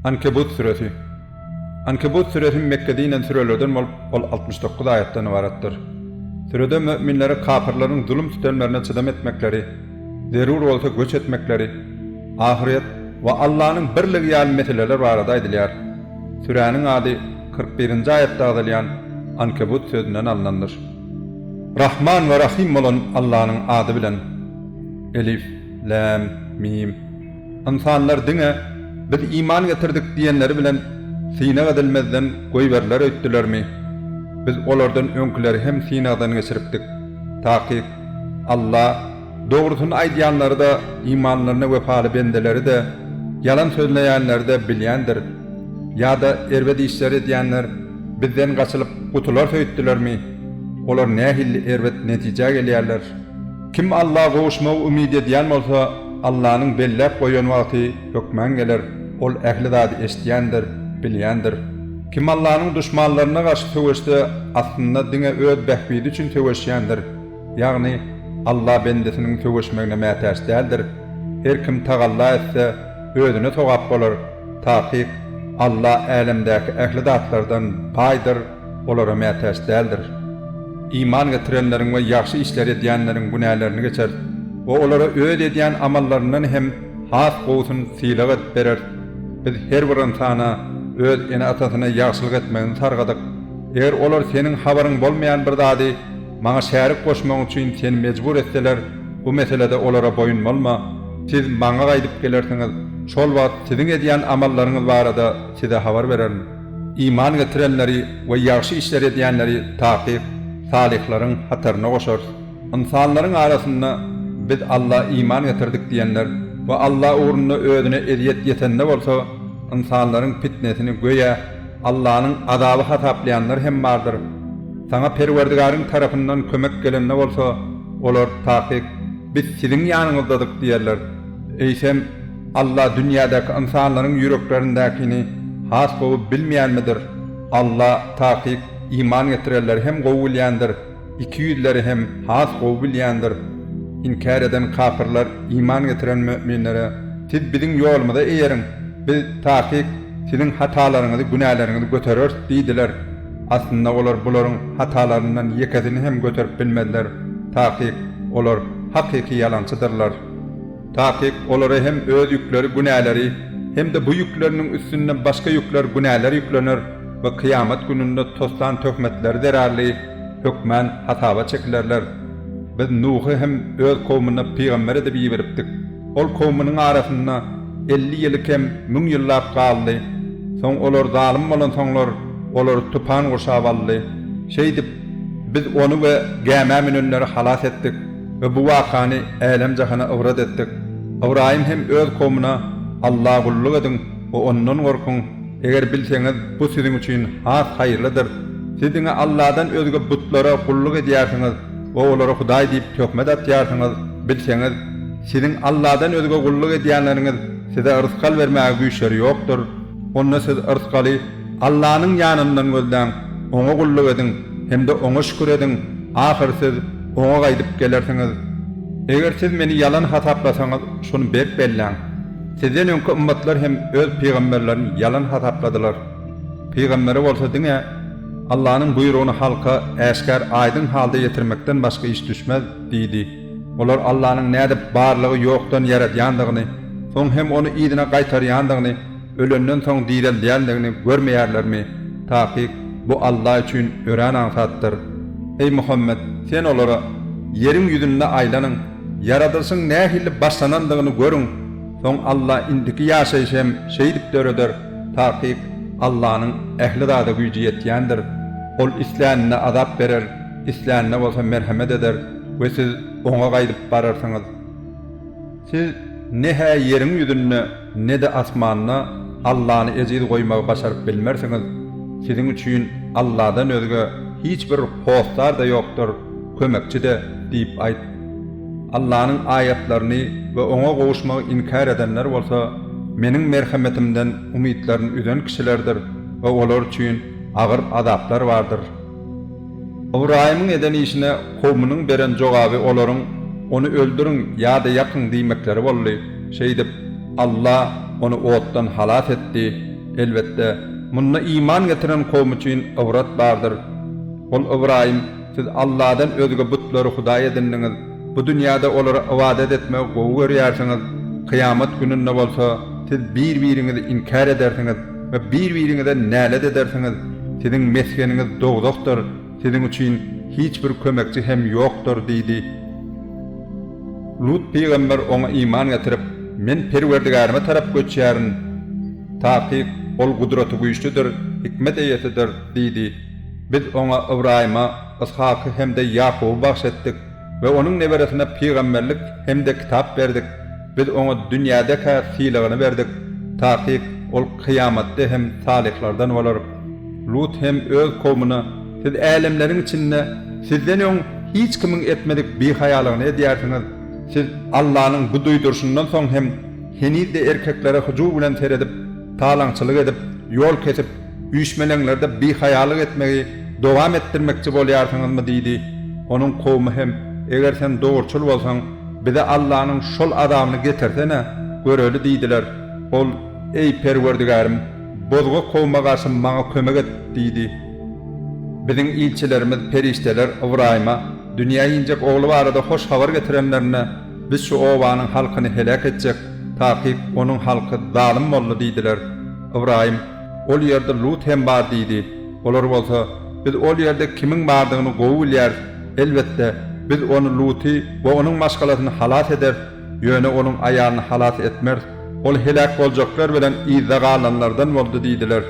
Ankebut süresi. Ankebut süresi Mekge dinen sürelerden bolup, ol altmyş dokuz aýatdan ybaratdyr. Sürede möminlere kapyrlaryň zulum-sütemlerine çydam etmekleri, zerur bolsa göç etmekleri, ahyret we Allanyň birligi ýaly meseleler barada aýdylýar. Süräniň ady kyrk birinji aýatda agzalýan Ankebut sözünden alnandyr. Rahman we Rahym bolan Allanyň ady bilen. Elif. Läm, Mim. Ynsanlar diňe, Biz iman getirdik diýenleri bilen synag edilmezden goýberiler öýtdülermi? Biz olardan öňküleri hem synagdan geçiripdik. Takyk, Alla, dogrusyny aýdýanlary-da, imanlaryna wepaly bendeleri-de, ýalan sözleýänleri-de bilýändir. Ýa-da erbet işler edýänler Bizden gaçylyp gutularys öýtdülermi? Olar nähilli erbet netijä gelýärler! Kim Alla gowuşmagy umyt edýän bolsa, Allanyň belläp goýan wagty hökman geler, Ol ähli zady eşidýändir, bilýändir. Kim Allanyň duşmanlaryna garşy söweşse, aslynda diňe öz bähbidi üçin söweşýändir. Ýagny, Alla bendesiniň söweşmegine mätäç däldir. Her kim tagalla etse, özüne sogap bolar. Takyk, Alla älemdäki ähli zatlardan baýdyr. olara mätäç däldir. Iman getirenleriň we ýagşy işler edýänleriň günälerini geçer we olara öz edýän amallaryndan hem has gowusyny sylag edip berer. Biz her bir ynsana öz ene-atasyna ýagşylyk etmegini sargadyk. Eger olar seniň habaryň bolmaýan bir zady Maňa şärik goşmagyň üçin seni mejbur etseler, bu meselede olara boýun bolma. Siz Maňa gaýdyp gelersiňiz, şol wagt siziň edýän amallaryňyz barada size habar bererin. Iman getirenleri we ýagşy işler edýänleri takyk salyhlaryň hataryna goşarys. Ynsanlaryň arasynda Biz Alla iman getirdik diýenler we Alla ugrunda özüne ezýet ýetende bolsa, ynsanlaryň pitnesini göýä Allanyň azaby hasaplaýanlar hem bardyr. Saňa Perwerdigaryň tarapyndan kömek gelende bolsa, olar, Takyk, biz siziň ýanyňyzdadyk diýerler. Eýsem, Alla dünýädäki ynsanlaryň ýüreklerindäkini has gowy bilmeýänmidir? Alla, takyk, iman getirenleri hem gowy bilýändir, ikiýüzleri hem has gowy bilýändir. Inkär eden kapyrlar iman getiren müminlere, Siz biziň ýolumyza eýeriň, biz, takyk, siziň hatalaryňyzy, günäleriňizi götereris diýdiler. Aslynda olar bularyň hatalaryndan ýekesini hem göterip bilmezler, takyk, olar hakyky ýalançydyrlar. Takyk olara hem öz ýükleri, günäleri, hem-de bu ýükleriniň üstünde başga ýükler, günäler ýüklener we kyýamat gününde toslan töhmetleri zerarly hökmän hasaba çekilerler. Biz Nuhy hem öz kowmuna pygamber edip iberipdik. Ol kowmunyň arasynda elli ýyly kem müň ýyllap galdy. Soň olar zalym bolansoňlar, olary tupan gurşap aldy. Şeýdip, Biz ony we gämä münenleri halas etdik. we bu wakany älem-jahana ybrat etdik. Ybraýym hem öz kowmuna, Alla gulluk ediň we Ondan gorkuň, eger bilseňiz, bu siziň üçin has haýyrlydyr. Siz diňe Alladan özge butlara gulluk edýärsiňiz we olara hudaý diýip töhmet atýarsyňyz. Bilseňiz, siziň Alladan özge gulluk edýänleriňiz size yrsgal bermäge güýçleri ýokdur. Onda siz yrsgaly Allanyň ýanyndan gözläň, Oňa gulluk ediň hem-de Oňa şükür ediň, ahyry siz, Oňa gaýdyp gelersiňiz. Eger siz meni ýalan hasaplasaňyz, şuny berk belläň, sizden öňki ymmatlar hem öz pygamberlerini ýalan hasapladylar. Pygambere bolsa diňe Allanyň buýrugyny halka äşgär aýdyň halda ýetirmekden başga iş düşmez diýdi. Olar Allanyň nädip barlygy ýokdan ýaradýandygyny, soň hem ony yzyna gaýtarýandygyny, Ölenden soň direldýändigini görmeýärlermi? Takyk, Bu Alla üçin örän aňsatdyr. Eý Muhammet, sen olara, Ýeriň ýüzünde aýlanyň, ýaradylyşyň nähili başlanandygyny görüň, soň Alla indiki ýaşaýşy hem şeýdip döreder, takyk, Allanyň ähli zada güýji ýetýändir. Ol islänine azap berer, islänine bolsa merhemet eder we siz Oňa gaýdyp bararsyňyz. Siz ne-hä ýeriň ýüzünde, ne-de asmanda Allany ejiz goýmagy başaryp bilmersiňiz, siziň üçin Alladan özge hiç bir hossar-da ýokdur, kömekçi-de diýip aýt. Allanyň aýatlaryny we Oňa gowuşmagy inkär edenler bolsa Meniň merhemetimden umytlaryny üzen kişilerdir we olar üçin agyr azaplar bardyr. Ybraýymyň eden işine kowumynyň beren jogaby olaryň, Ony öldüriň ýa-da ýakyň diýmekleri boldy. Şeýdip, Alla ony otdan halas etdi. Elbetde, munda iman getiren kowum üçin ybrat bardyr. Ol Ybraýym, Siz Alladan özge butlary hudaý edindiňiz, bu dünýäde olara ybadat etmegi gowy görýärsiňiz, kyýamat gününde bolsa siz bir-biriňizi inkär edersiňiz. we bir-biriňize nälet edersiňiz, siziň mesgeniňiz dowzahdyr, siziň üçin hiç bir kömekçi hem ýokdur diýdi. Lut pygamber oňa iman getirip, Men Perwerdigäryma tarap göçýärin. Takyk, Ol Gudratygüýçlidir, hikmet eýesidir diýdi. Biz oňa Ybraýyma, Yshaky hem-de Ýakuby bagyş etdik. we onuň neberesine pygamberlik hem-de kitap berdik, biz oňa dünýäde-kä sylagyny berdik, takyk, ol kyýamatda hem salyhlardan bolar. Lut hem öz kowmuna, Siz älemleriň içinde Sizden öň hiç kimiň etmedik bihaýalygyny edýärsiňiz, siz Allanyň bu duýduryşyndan soň hem heniz-de erkeklere hyjuw bilen seredip, talaňçylyk edip, ýol kesip, Üýşmeleňlerde bihaýalyk etmegi dowam etdirmekçi bolýarsyňyzmy? diýdi. Onuň kowumy hem, Eger sen dogruçyl bolsaň, bize Allanyň şol azabyny getirsene, göreli diýdiler. Ol, Eý, Perwerdigärim, bozga kowuma garşy maňa kömek et! diýdi. Biziň ilçilerimiz, perişdeler, Ybraýyma, Dünýä injek ogly barada hoş habar getirenlerinde, Biz şu obanyň halkyny heläk etjek, takyk onuň halky zalym boldy diýdiler. Ybraýym, Ol ýerde Lut hem bar diýdi. Olar bolsa, Biz ol ýerde kimiň bardygyny gowy bilýäris. Elbetde, biz ony Luty we onuň maşgalasyny halas ederis, ýöne onuň aýalyny halas etmeris. Ol heläk boljaklar bilen yzda galanlardan boldy diýdiler.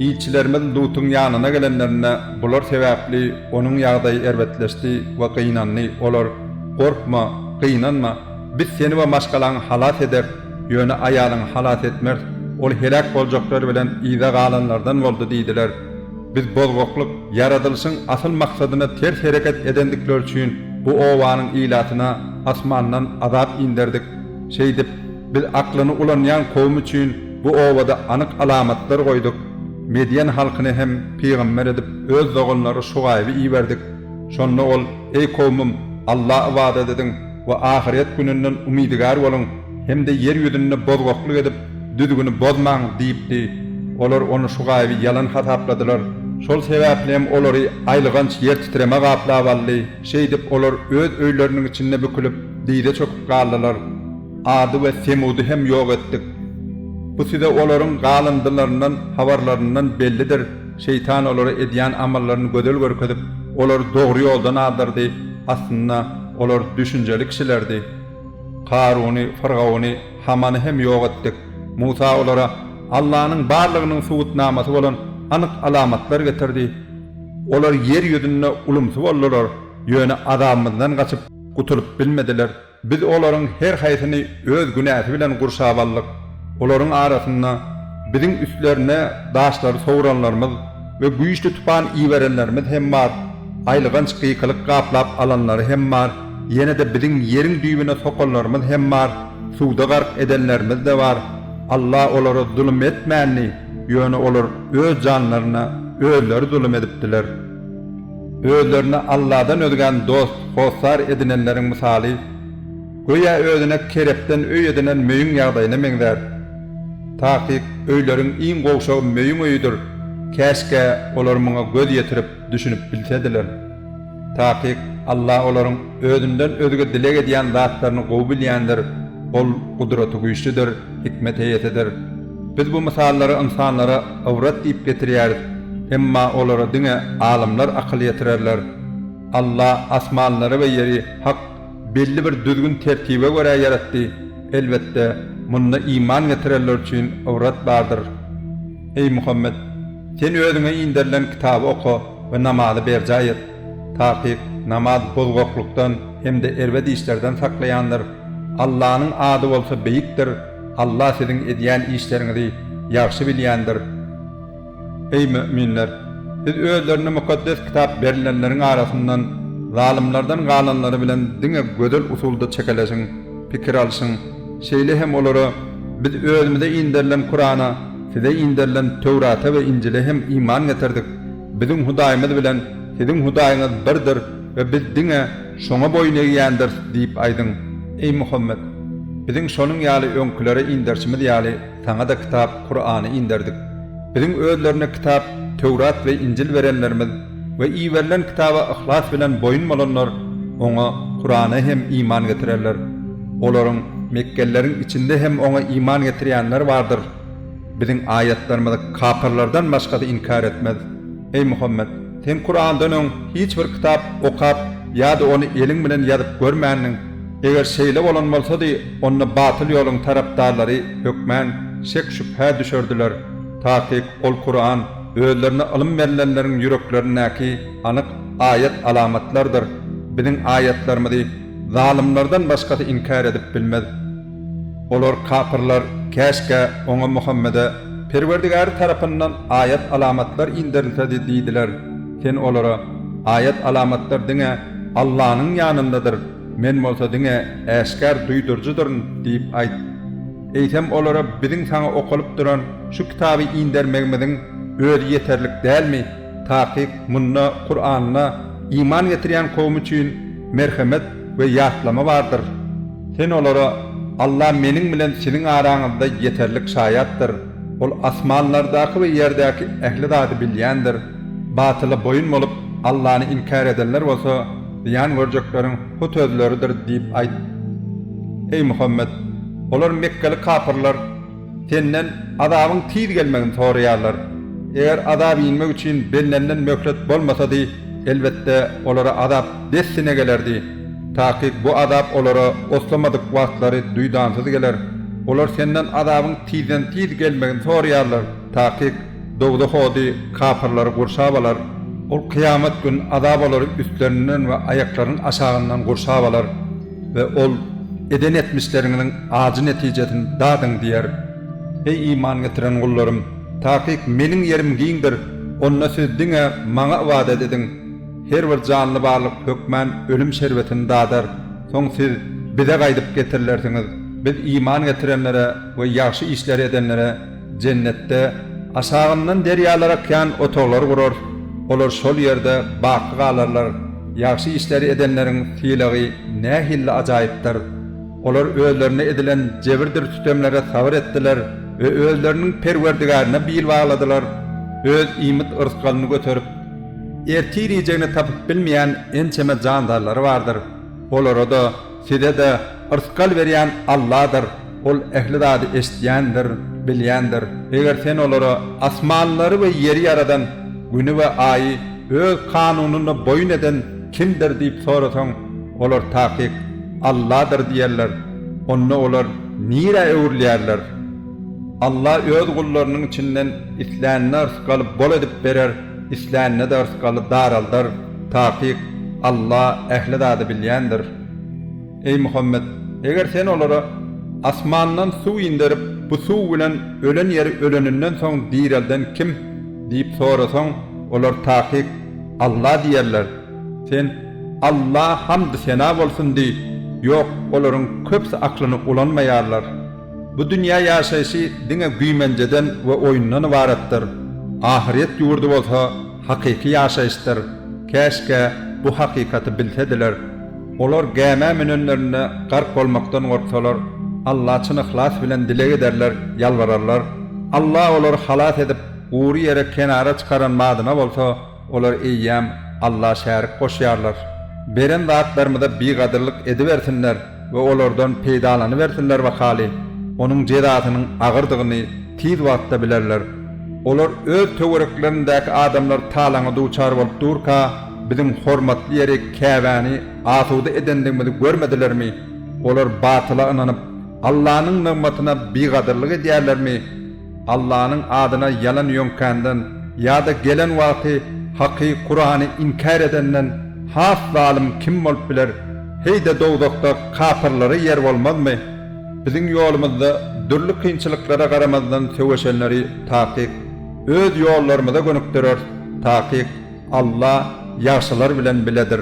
Ilçilerimiz Lutyň ýanyna gelenlerinde, bular sebäpli onuň ýagdaýy erbetleşdi we gynandy. Olar, Gorkma, gynanma. Biz seni we maşgalaňy halas ederis. Ýöne aýalyňy halas etmeris, ol heläk boljaklar bilen yza galanlardan boldy diýdiler. Biz bozgaklyk, ýaradylyşyň asyl maksadyna ters hereket edendikleri üçin bu obanyň ilatyna asmandan azap inderdik. Şeýdip, biz aklyny ulanýan kowum üçin bu obada anyk alamatlar goýduk. Medýen halkyny hem pygamber edip öz doganlary Şugaýby iberdik. Şonda ol, Eý kowumym, Alla ybadat ediň! we ahyret gününden umydygär boluň hem-de ýer ýüzünde bozgaklyk edip, düzgüni bozmaň diýipdi. Olar ony Şugaýby ýalan hasapladylar. Şol sebäpli hem olary aýlyganç ýertitreme gaplap aldy. Şeýdip, olar öz öýleriniň içinde bükülip, dyza çöküp galdylar. Ady we Semudy hem ýok etdik. Bu size olaryň galyndylaryndan, habarlaryndan, bellidir. Şeýtan olara edýän amallaryny gözel görkezip, olary dogry ýoldan azdyrdy. Aslynda. Olar düşünjeli kişilerdi. Karuny, fyrgawny, Hamany hem ýok etdik. Musa olara Allanyň barlygynyň subutnamasy bolan anyk alamatlar getirdi. Olar ýer ýüzünde ulumsy boldular, ýöne azabymyzdan gaçyp, gutulyp bilmediler. Biz olaryň her haýsyny Öz günäsi bilen gurşap aldyk. Olaryň arasynda biziň üstlerine daşlary sowranlarymyz we güýçli tupan iberenlerimiz hem bar, aýylganç gykylyk gaplap alanlary hem bar, ýene-de biziň ýeriň düýbüne sokanlarymyz hem bar, suwda gark edenlerimiz-de bar. Alla olara zulum etmändi, ýöne olar öz janlaryna özleri zulum edipdiler. Özlerine Alladan özgäni dost, hossar edinenleriň mysaly. Göýä özüne kerebden öý edinen möýüň ýagdaýyna meňzär. Takyk, öýleriň iň gowşagy möýüň öýüdir, käşgä olar muňa göz ýetirip, düşünip bilsediler. Takyk, Alla olaryň Özünden özge dileg edýän zatlaryny gowy bilýändir, Ol Gudratygüýçlidir, hikmet eýesidir. Biz bu mysallary ynsanlara ybrat diýip getirýäris, emma olara diňe alymlar akyl ýetirerler. Alla asmanlary we ýeri hak belli bir düzgün-tertibe görä ýaratdy, elbetde, munda iman getirenler üçin ybrat bardyr. Eý, Muhammet! Sen özüňe inderilen kitaby oka we namazy berjaý et. Takyk, namaz bozgaklykdan hem-de erbet işlerden saklaýandyr. Allanyň ady bolsa beýikdir, Alla siziň edýän işleriňizi ýagşy bilýändir. Eý, möminler! Siz özlerine Mukaddes Kitap berilenleriň arasyndan zalymlardan galanlary bilen diňe gözel usulda çekeleşiň, pikir alşyň. Şeýle hem olara, Biz özümize inderilen Kurana, size inderilen Töwrata we Injile hem iman getirdik. Biziň Hudaýymyz bilen siziň Hudaýyňyz birdir we biz diňe Şoňa boýun egýändiris diýip aýdyň. Eý, Muhammet! Biziň şonuň ýaly öňkülere inderişimiz ýaly, Saňa-da kitap, Kurany, inderdik. Biziň özlerine kitap, Töwrat we Injil berenlerimiz we iberilen kitaba yhlas bilen boýun bolanlar Oňa, Kurana, hem iman getirerler. Olaryň, mekgelileriň, içinde hem Oňa iman getirýänler bardyr. Biziň aýatlarymyzy kapyrlardan başgasy inkär etmez. Eý Muhammet! Sen Kurandan öň hiç bir kitap okap ýa-da ony eliň bilen ýazyp görmändiň. Eger şeýle bolan bolsady, onda batyl ýoluň tarapdarlary hökmän şek-şübhä düşerdiler. Takyk, ol Kuran, özlerine ylym berlenleriň ýüreklerindäki anyk aýat-alamatlardyr. Biziň aýatlarymyzy zalymlardan başgasy inkär edip bilmez. Olar, kapyrlar, Käşgä, oňa, Muhammede, Perwerdigäri tarapyndan aýat-alamatlar inderilsedi diýdiler. Sen olara, Aýat-alamatlar diňe Allanyň ýanyndadyr, Men bolsa diňe äşgär duýduryjydyryn diýip aýt. Eýsem, olara, Biziň saňa okalyp duran şu kitaby indermegimiziň özi ýeterlik dälmi? Takyk, munda Kuranda iman getirýän kowum üçin merhemet we ýatlama bardyr. Sen olara, Allah Meniň bilen siziň araňyzda ýeterlik şaýatdyr, Ol asmanlardaky we ýerdäki ähli zady bilýändir. Batyla boýun bolup, Allany inkär edenler bolsa, zyýan görjekleriň hut özleridir diýip aýt. Eý Muhammet! Olar, mekgeli kapyrlar, Senden azabyň tiz gelmegini soraýarlar. Eger azap inmek üçin bellenilen möhlet bolmasady, elbetde, olara azap dessine gelerdi. Takyk bu azap olara oslamadyk wagtlary duýdansyz geler. Olar Senden azabyň tizden-tiz gelmegini soraýarlar. Takyk, dowzah ody kapyrlary gurşap alar. Ol kyýamat gün azap olary üstlerinden we aýaklarynyň aşagyndan gurşap alar. We ol, Eden etmişleriňiziň ajy netijesini dadyň diýer. Eý iman getiren gullarym! Takyk Meniň ýerim giňdir, onda siz diňe Maňa ybadat ediň. Her bir janly barlyk hökmän ölüm şerbetini dadar. Soň siz Bize gaýdyp getirilersiňiz. Biz iman getirenlere we ýagşy işleri edenlere Jennetde aşagyndan derýalar akýan otaglar gurarys, olar şol ýerde baky galarlar. Ýagşy işleri edenleriň sylagy nähilli ajaýypdyr! Olar özlerine edilen jebirdir sütemlere sabyr etdiler we özleriniň Perwerdigäryna bil bagladylar, öz iýmit-yrsgalyny göterip, ertir iýjegini tapyp bilmeýän ençeme jandarlary bardyr, olara-da, Size-de yrsgal berýän Alladyr. Ol ähli zady eşidýändir, bilýändir. Eger sen olara, Asmanlary we ýeri ýaradan, Güni we Aýy Öz kanunyna boýun eden Kimdir? diýip sorasaň, olar takyk, Alladyr diýerler. Onda olar nirä öwrülýärler? Alla Öz gullarynyň içinden islänine yrsgaly bol edip berer. islänine-de yrsgaly daraldar, takyk, Alla ähli zady bilýändir. Eý, Muhammet, eger sen olara, Asmandan suw inderip, bu suw bilen ölen ýeri öleninden soň direlden kim? diýip sorasaň, olar takyk, Alla diýerler. Sen, Alla hamdy-sena bolsun diý, ýok, olaryň köpüsi aklyny ulanmaýarlar. Bu dünýä ýaşaýşy diňe güýmenjeden we oýundan ybaratdyr, ahyryýet ýurdy bolsa hakyky ýaşaýyşdyr, käşgä bu hakykaty bilsediler. Olar gämä münenlerinde gark bolmakdan gorksalar, Alla çyn yhlas bilen dileg ederler, ýalbararlar. Alla olary halas edip, gury ýere kenara çykaran badyna bolsa, Olar eýýäm Alla şärik goşýarlar. Beren zatlarymyza bigadyrlyk edibersinler we olardan peýdalanybersinler wakaly, onuň jezasynyň agyrdygyny tiz wagtda bilerler. Olar öz töwereklerindäki adamlar talaňa duçar bolup durka, biziň hormatly ýeri Käbäni asuda edendigimizi görmedilermi? Olar batyla ynanyp, Allanyň nygmatyna bigadyrlyk edýärlermi? Allanyň adyna ýalan ýöňkänden ýa-da gelen wagty Haky, Kurany, inkär edenden has zalym kim bolup biler? Heý-de dowzahda kapyrlara ýer bolmazmy? Biziň ýolumyzda dürli kynçylyklara garamazdan söweşenleri takyk Öz ýollarymyza gönükdireris, takyk Alla ýagşylar bilen biledir.